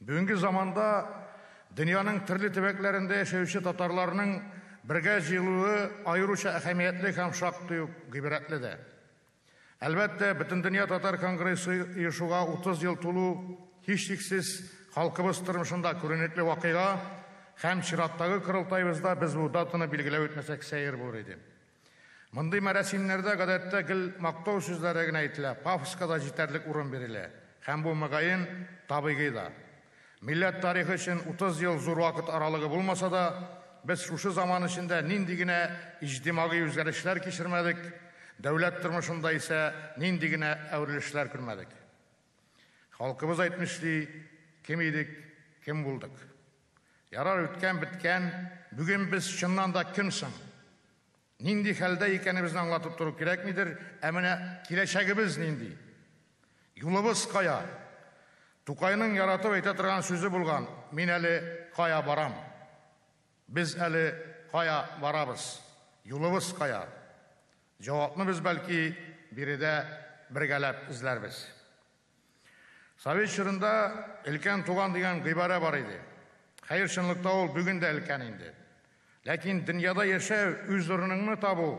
Бүгенге заманда дөньяның төрле төбәкләрендә яшәүче татарларның бергә җыелуы аеруча әһәмиятле һәм шактый ук гыйбрәтле дә. Әлбәттә, Бөтендөнья татар конгрессы оешуга 30 ел тулу, һичшиксез, халкыбыз тормышында күренекле вакыйга һәм чираттагы корылтаебызда без бу датаны билгеләп үтмәсәк сәер булыр иде. Мондый мәрасимнәрдә, гадәттә, гел мактау сүзләре генә әйтелә, пафоска да җитәрлек урын бирелә. Һәм бу, мөгаен, табигый да. Милләт тарихы өчен 30 ел зур вакыт аралыгы булмаса да, без шушы заман эчендә нинди генә иҗтимагый үзгәрешләр кичермәдек, дәүләт тормышында исә нинди генә әверелешләр күрмәдек. Халкыбыз әйтмешли, кем идек, кем булдык. Ярар, үткән беткән, бүген без чыннан да кем соң? Нинди хәлдә икәнебезне аңлатып тору кирәкмидер, ә менә киләчәгебез нинди? Юлыбыз кая? Тукайның яратып әйтә торган сүзе булган, мин әле кая барам? Без әле кая барабыз? Юлыбыз кая? Җавапны без, бәлки, биредә бергәләп эзләрбез. Совет чорында өлкән туган дигән гыйбарә бар иде. Хәер, чынлыкта ул бүген дә өлкән инде. Ләкин дөньяда яшәү, үз урыныңны табу,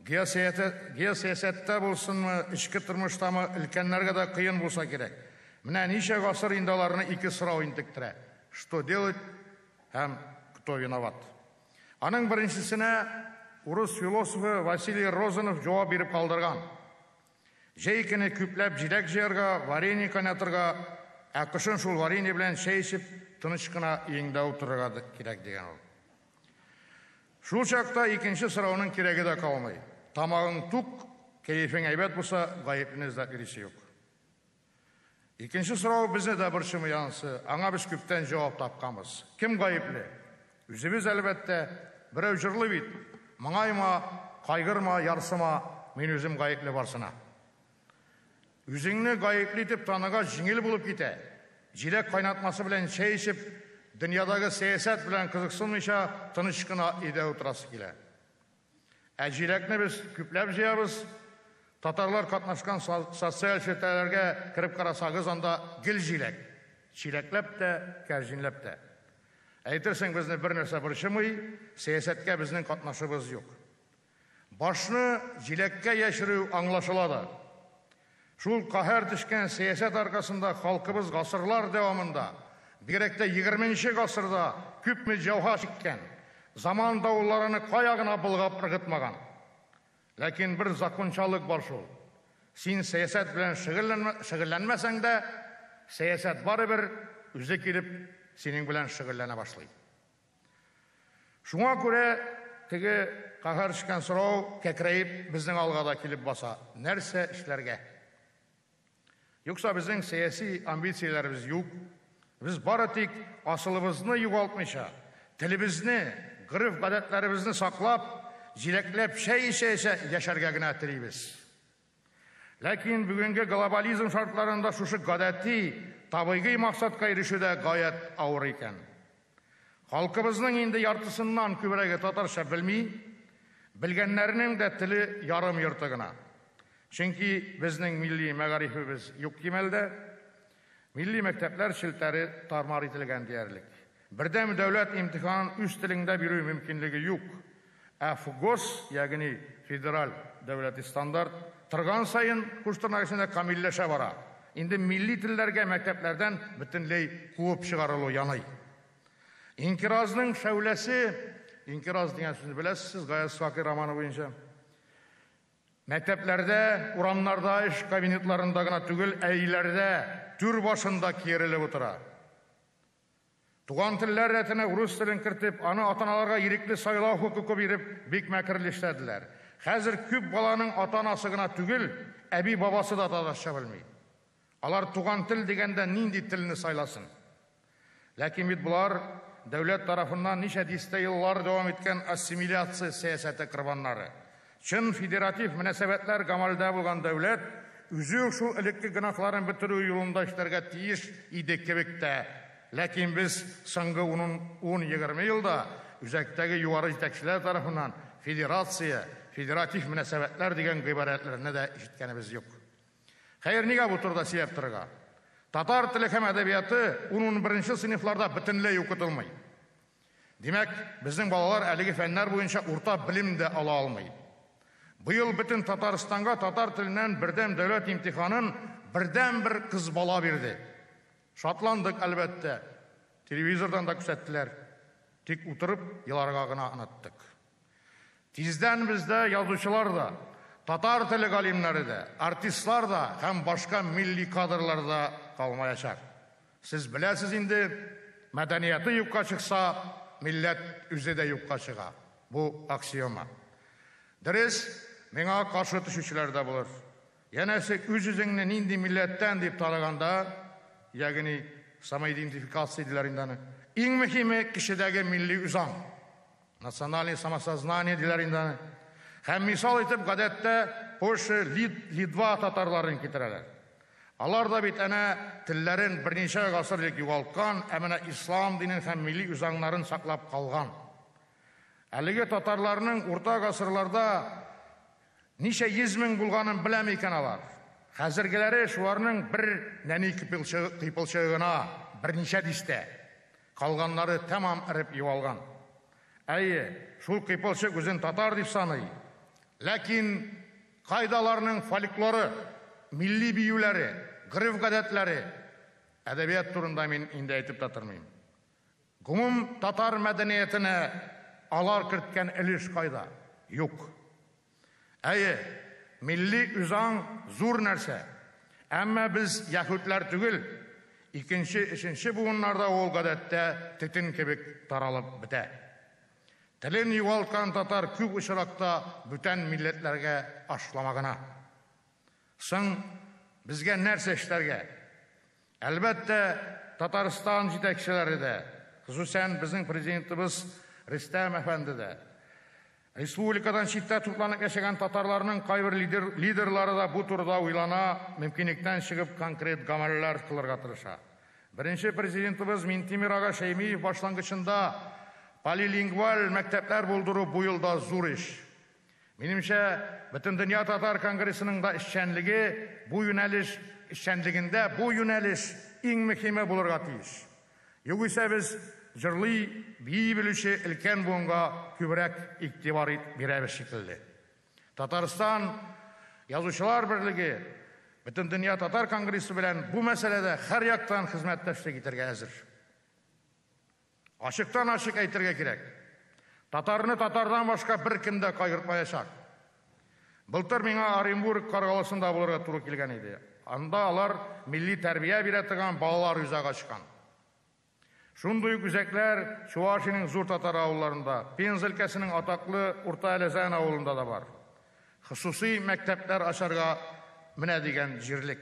геосәясәттә булсынмы, эчке тормыштамы, өлкәннәргә дә кыен булса кирәк. Менә ничә гасыр инде аларны ике сорау интектерә, что делать һәм кто виноват. Аның беренчесенә урыс философы Василий Розанов җавап биреп калдырган. Җәй көне күпләп җиләк җыярга, варенье кайнатырга, ә кышын шул варенье белән чәй эчеп, тыныч кына өеңдә утырырга кирәк, дигән ул. Шул чакта икенче сорауның кирәге дә калмый. Тамагың тук, кәефең әйбәт булса, гаеплене эзләп йөрисе юк. Икенче сорау безне дә борчымый ансы, аңа без күптән җавап тапканбыз. Кем гаепле? Үзебез, әлбәттә. Берәү җырлый бит, Моңайма, кайгырма, ярсыма, мин үзем гаепле барсына. Үзеңне гаепле итеп таныгач җиңел булып китә. Җиләк кайнатмасы белән чәй эчеп, дөньядагы сәясәт белән кызыксынмыйча тыныч кына өйдә утырасы килә. Ә җиләкне без күпләп җыябыз. Татарлар катнашкан социаль челтәрләргә кереп карасагыз, анда гел җиләк. Чиләкләп тә, кәрҗинләп тә. Әйтерсең, безне бернәрсә борчымый, сәясәткә безнең катнашыбыз юк. Башны җиләккә яшерү аңлашыла да. Шул каһәр төшкән сәясәт аркасында халкыбыз гасырлар дәвамында, бигрәк тә егерме нче гасырда күпме җәфа чиккән, заман давылларыны кая гына болгап ыргытмаган. Ләкин бер закончалык бар шул, син сәясәт белән шөгыльләнмәсәң дә, сәясәт барыбер үзе килеп синең белән шөгыльләнә башлый. Шуңа күрә теге каһәр төшкән сорау кәкрәеп безнең алга да килеп баса, нәрсә эшләргә? Юкса безнең сәяси амбицияләребез юк, без бары тик асылыбызны югалтмыйча, телебезне, гореф-гадәтләребезне саклап, җиләкләп чәй эчә-эчә яшәргә генә телибез. Ләкин бүгенге глобализм шартларында шушы гадәти, табыйгый максатка ирешү дә гаять авыр икән. Халкыбызның инде яртысыннан күбрәге татарча белми, белгәннәренең дә теле ярым-йорты гына. Чөнки безнең милли мәгарифебез юк кимәлдә. Милли мәктәпләр челтәре тар-мар ителгән диярлек. Бердәм дәүләт имтиханын үз телеңдә бирү мөмкинлеге юк. Ә ФГОС, ягъни федераль дәүләти стандарт, торган саен, куш тырнак эчендә, камилләшә бара. Инде милли телләргә мәктәпләрдән бөтенләй куып чыгарылу яный. Инкыйразның шәүләсе, инкыйраз дигән сүзне беләсез сез Гаяз Сакый романы буенча. Мәктәпләрдә, урамнарда, эш кабинетларында гына түгел, ә өйләрдә, түр башында киерелеп утыра. Туган телләр рәтенә урыс телен кертеп, аны атаналарга ирекле сайлау хокукы биреп, бик мәкерле эшләделәр. Хәзер күп баланың ата-анасы гына түгел, әби-бабасы да татарча белми. Алар туган тел дигәндә нинди телне сайласын? Ләкин бит болар дәүләт тарафыннан ничә дистә еллар дәвам иткән ассимиляция сәясәте корбаннары. Чын федератив мөнәсәбәтләр гамәлдә булган дәүләт үзе үк шул элекке гөнаһларын бетерү юлында эшләргә тиеш иде кебек тә. Ләкин без соңгы ун-ун-егерме елда үзәктәге югары җитәкчеләр тарафыннан федерация, федератив мөнәсәбәтләр дигән гыйбарәләрне дә ишеткәнебез юк. Хәер, нигә бу турыда сөйләп торырга? Татар теле һәм әдәбияты ун-унберенче сыйныфларда бөтенләй укытылмый. Димәк, безнең балалар әлеге фәннәр буенча урта белем дә ала алмый. Быел бөтен Татарстанга татар теленнән бердәм дәүләт имтиханын бердәнбер кыз бала бирде. Шатландык, әлбәттә. Телевизордан да күрсәттеләр. Тик утырып еларга гына оныттык. Тиздән бездә язучылар да, татар теле галимнәре дә, артистлар да һәм башка милли кадрлар да калмаячак. Сез беләсез инде, мәдәнияте юкка чыкса, милләт үзе дә юкка чыга. Бу аксиома. Дөрес, миңа каршы төшүчеләр дә булыр. Янәсе, үз-үзеңне нинди милләттән дип тараганда, ягъни самоидентификация диләр инде аны, иң мөһиме, кешедәге милли үзаң. Национальный самосознание диләр инде аны. Һәм мисал итеп гадәттә Польша, Лид, Литва татарларын китерәләр. Алар да бит әнә телләрен берничә гасыр элек югалткан, ә менә ислам динен һәм милли үзаңнарын саклап калган. Әлеге татарларның урта гасырларда ничә йөз мең булганын беләме икән алар? Хәзергеләре шуларның бер нәни кыйпылчыгы гына, берничә дистә. Калганнары тәмам эреп югалган. Әйе, шул кыйпылчык үзен татар дип саный. Ләкин кайда аларның фольклоры, милли биюләре, гореф-гадәтләре? Әдәбият турында мин инде әйтеп тә тормыйм. Гомум татар мәдәниятенә алар керткән өлеш кайда? Юк. Әйе, милли үзаң зур нәрсә. Әмма без яһүдләр түгел. Икенче, өченче буыннарда ул, гадәттә, төтен кебек таралып бетә. Телен югалткан татар күп очракта бүтән милләтләргә ашлама гына. Соң, безгә нәрсә эшләргә? Әлбәттә, Татарстан җитәкчеләре дә, хосусән безнең Президентыбыз Рөстәм әфәнде дә, республикадан читтә тупланып яшәгән татарларның кайбер лидерлары да бу турыда уйлана, мөмкинлектән чыгып конкрет гамәлләр кылырга тырыша. Беренче Президентыбыз Минтимер ага Шәймиев башлангычында полилингваль мәктәпләр булдыру бу елда зур эш. Минемчә, Бөтендөнья татар конгрессының да эшчәнлеге бу юнәлеш эшчәнлегендә бу юнәлеш иң мөһиме булырга тиеш. Югыйсә без җырлый, бии белүче өлкән буынга күбрәк игътибар бирәбез шикелле. Татарстан Язучылар берлеге Бөтендөнья татар конгрессы белән бу мәсьәләдә һәрьяктан хезмәттәшлек итәргә әзер. Ачыктан-ачык әйтергә кирәк, татарны татардан башка беркем дә кайгыртмаячак. Былтыр миңа Оренбург Каргалысында булырга туры килгән иде. Анда алар милли тәрбия бирә торган балалар үзәге ачкан. Шундый ук үзәкләр Чувашиянең зур татар авылларында, Пенза өлкәсенең атаклы Урта Әләзән авылында да бар. Хосусый мәктәпләр ачарга менә дигән җирлек.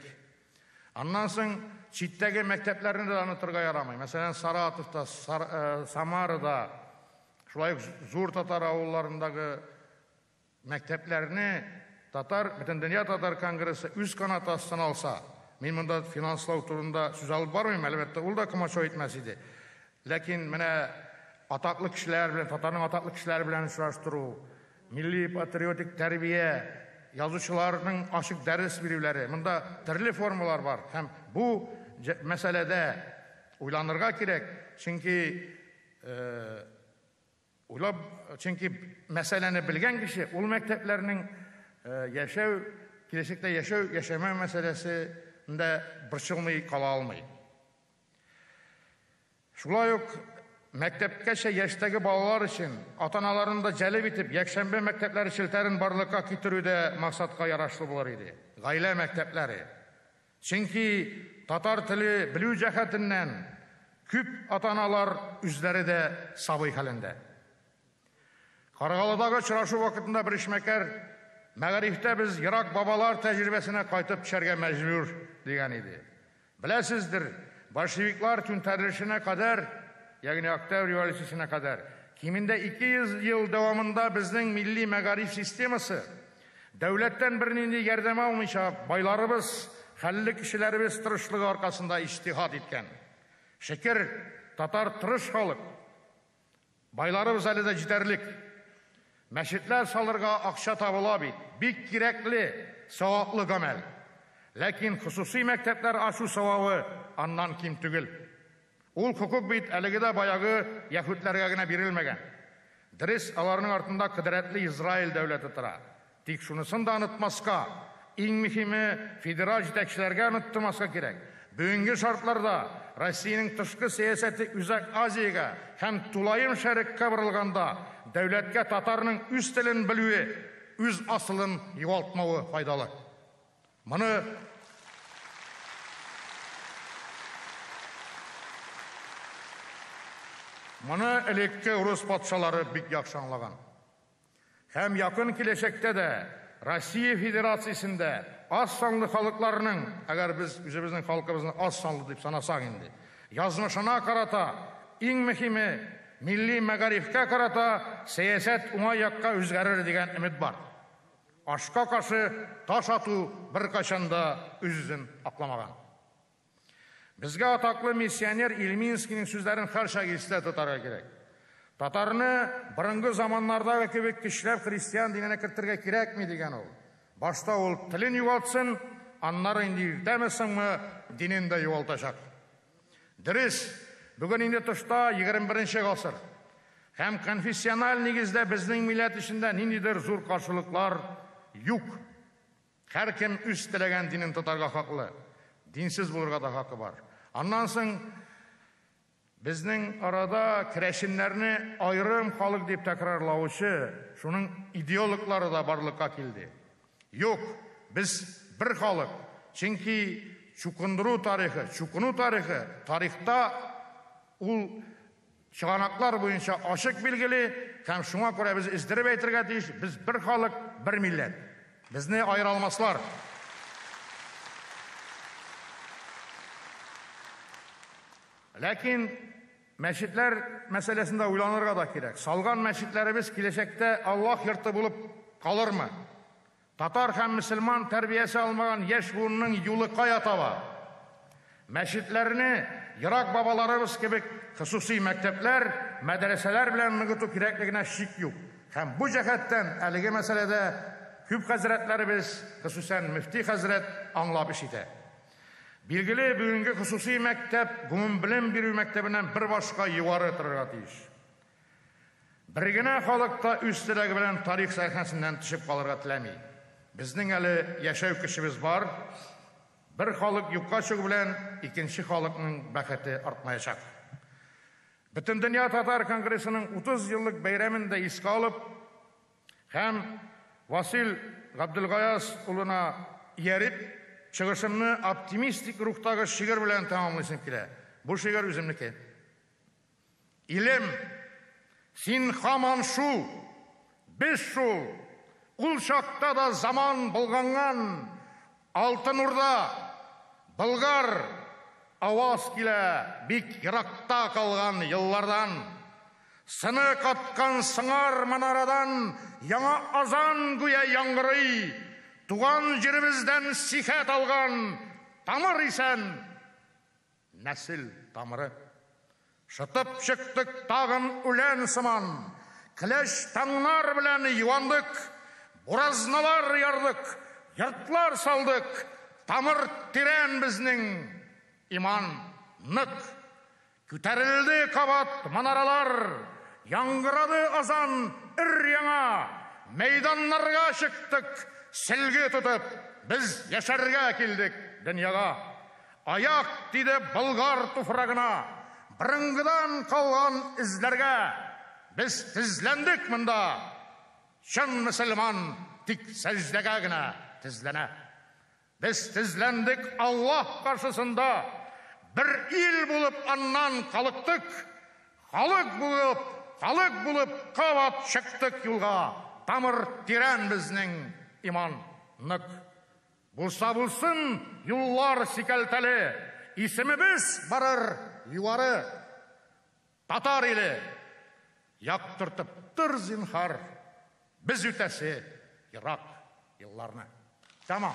Аннан соң читтәге мәктәпләрне дә онытырга ярамый. Мәсәлән, Саратовта, Самарада, шулай ук зур татар авылларындагы мәктәпләрне татар бөтендөнья татар конгрессы үз канаты астына алса, мин монда финанслау турында сүз алып бармыйм, әлбәттә, ул да комачау итмәс иде. Ләкин менә атаклы кешеләр белән, татарның атаклы кешеләре белән очраштыру, Милли-патриотик тәрбия, язучыларның ачык дәрес бирүләре, монда төрле формалар бар һәм бу мәсьәләдә уйланырга кирәк, чөнки уйлап, чөнки мәсьәләне белгән кеше ул мәктәпләрнең яшәү, киләчәктә яшәү, яшәмәү мәсьәләсендә борчылмый кала алмый. Шулай ук мәктәпкәчә яшьтәге балалар өчен ата-аналарны да җәлеп итеп якшәмбе мәктәпләре челтәрен барлыкка китерү дә максатка ярашлы булыр иде. Гаилә мәктәпләре. Чөнки татар теле белү җәһәтеннән күп ата-аналар үзләре дә сабый хәлендә. Каргалыдагы очрашу вакытында бер эшмәкәр, Мәгарифтә без ерак бабалар тәҗрибәсенә кайтып төшәргә мәҗбүр, дигән иде. Беләсездер, большевиклар түнтәрелешенә кадәр, ягъни Октябрь революциясенә кадәр, кимендә 200 ел дәвамында безнең милли мәгариф системасы, дәүләттән бернинди ярдәм алмыйча, байларыбыз, хәлле кешеләребез тырышлыгы аркасында иҗтиһад иткән. Шөкер, татар тырыш халык. Байларыбыз әле дә җитәрлек. Мәчетләр салырга акча табыла бит, бик кирәкле, саваплы гамәл. Ләкин хосусый мәктәпләр ачу савабы аннан ким түгел. Ул хокук бит әлеге дә баягы яһүдләргә генә бирелмәгән. Дөрес, аларның артында кодрәтле Израиль дәүләте тора. Тик шунысын да онытмаска, иң мөһиме, федераль җитәкчеләргә оныттырмаска кирәк, бүгенге шартларда Россиянең тышкы сәясәте Үзәк Азиягә һәм Тулаем Шәреккә борылганда, дәүләткә татарның үз телен белүе, үз асылын югалтмавы файдалы. Моны Моны элекке урыс патшалары бик яхшы аңлаган. Һәм якын киләчәктә дә Россия Федерациясендә аз санлы халыкларның, әгәр без үзебезнең халкыбызны аз санлы дип санасак инде, язмышына карата, иң мөһиме, милли мәгарифкә карата сәясәт уңай якка үзгәрер дигән өмет бар. Ашка каршы таш ату беркайчан да үз-үзен акламаган. Безгә атаклы миссионер Ильминскийның сүзләрен һәрчак истә тотарга кирәк. Татарны борынгы заманнардагы кебек көчләп христиан диненә кертергә кирәкми, дигән ул. Башта ул телен югалтсын, аннары инде иртәме соңмы динен дә югалтачак. Дөрес, бүген инде тышта 21 нче гасыр. Һәм конфессиональ нигездә безнең милләт эчендә ниндидер зур каршылыклар юк. Һәркем үз теләгән динен тотарга хаклы, динсез булырга да хакы бар. Аннан соң безнең арада керәшеннәрне аерым халык дип тәкрарлаучы шуның идеологлары да барлыкка килде. Юк, без бер халык, чөнки чукындыру тарихы, чукыну тарихы тарихта ул Чыганаклар буенча ачык билгели һәм шуңа күрә без өздереп әйтергә тиеш, без бер халык, бер милләт. Безне аера алмаслар. Ләкин мәчетләр мәсьәләсендә уйланырга да кирәк. Салган мәчетләребез киләчәктә Аллаһ йорты булып калырмы? Татар һәм мөселман тәрбиясе алмаган яшь буынның юлы кая таба? Мәчетләрне, ерак бабаларыбыз кебек, хосусый мәктәпләр, мәдрәсәләр белән ныгыту кирәклегенә шик юк. Һәм бу җәһәттән әлеге мәсьәләдә күп хәзрәтләребез, хосусән мөфти хәзрәт аңлап эш итә. Билгеле, бүгенге хосусый мәктәп гомумбелем бирү мәктәбеннән бер башка югары торырга тиеш. Бер генә халык та үз теләге белән тарих сәхнәсеннән төшеп калырга теләми. Безнең әле яшәү көчебез бар. Бер халык юкка чыгу белән икенче халыкның бәхете артмаячак. Бөтендөнья татар конгрессының 30 еллык бәйрәмен дә искә алып һәм Васил Габделгаяз улына ияреп, чыгышымны оптимистик рухтагы шигырь белән тәмамлыйсым килә. Бу шигырь үземнеке. Илем, син һаман шул, без шул, ул чакта да заман болганган Алтын Урда, Болгар, аваз килә бик еракта калган еллардан. Сыны каткан сыңар манарадан яңа азан гүя яңгырый, туган җиребездән сихәт алган тамыр исән! Нәсел тамыры. Шытып чыктык тагын үлән сыман, Кләч таңнар белән юандык, Буразналар ярдык, йортлар салдык, Тамыр тирән безнең, иман нык. Күтәрелде кабат манаралар, Яңгырады азан өр-яңа, Мәйданнарга чыктык сөлге тотып, Без яшәргә килдек дөньяга. Аяк тиде Болгар туфрагына, Борынгыдан калган эзләргә. Без тезләндек монда, Чын мөселман тик сәҗдәгә генә тезләнә. Без тезләндек Аллаһ каршысында, Бер ил булып аннан калыктык. Халык булып, халык булып кабат чыктык юлга, Тамыр тирән безнең, иман нык. Булса булсын, юллар сикәлтәле, Исемебез барыр югары. Татар иле, яктыртып тор, зинһар, Без үтәсе ерак елларны. Тәмам.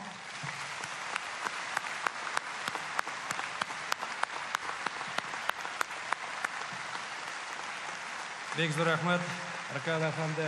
Бик зур рәхмәт, Ркаил әфәнде.